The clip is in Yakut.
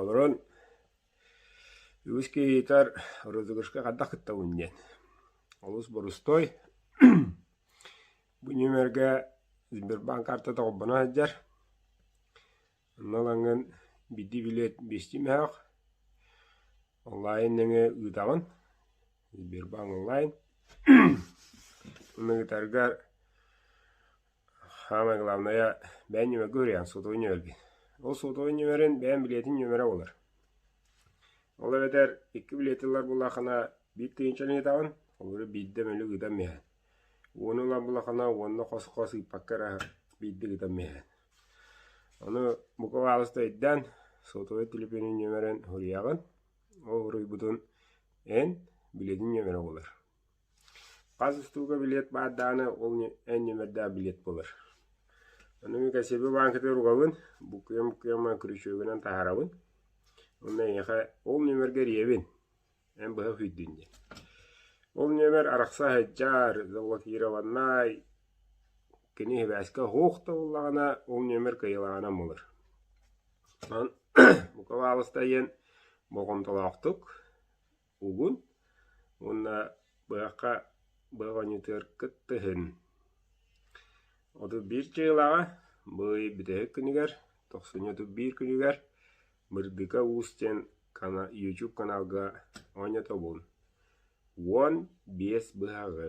Олорон үгүс киһитэр розыгрышка хайдах кыттабын диэн олус борустуой бу нүмергэ Сбербанк карта доҕорбуна сылдьар онно ылаҥҥын биирдии билиэт биэстии мөһөх онлайн нөҥүө ыытаҕын Сбербанк онлайн ыытаргар Хаамай главнайа, бэйэм ньүмэргэ уруйан, сотовой ньүмэрбин. Ол сотовой ньүмэрин бэйэм билиэтин ньүмэрэ буолар. Ол эбэтэр икки билиэти ылар буоллаххына, биир тыһыынча ылынытаҕын, ол эрээри биирдэ мөлүк ыытан биэрэн. Ууну ылан буоллаххына, уонна хос-хос ыыппакка эрэ биирдик ыытан биэрэн. Ону бука баалыста өйдөөн, сотовой телефонун ньүмэрин уруйаҕын, ол уруйбутун эн, билиэтин ньүмэрэ буолар. Хас уустуга билиэт баар даҕаны, ол эн ньүмэрдээх билиэт буолар. Ону мин кэссиэбэ бааҥкатыгар угабын, буккуйа-буккуйа күрүчүөгүнэн таһаарабын. Онно эйиэхэ ол ньүмэргэр ийэбин, эн быһа күүттүн диэн. Ол ньүмэр арахса сылдьар, заблокированнай, кини сибээскэ оһох да буоллаҕына, ол ньүмэр кыайылааҕынан буолар. Онон бука баҕаласта диэн болҕомтолоохтук угун уонна быһахха быоҕонньутуор кыттыһын. Отут биир дьыалаҕа быый бүтэһик күнүгэр тохсунньу отут биир күнүгэр Бырдыка Уус диэн YouTube каналга оонньотобун. Уон биэс быһаҕы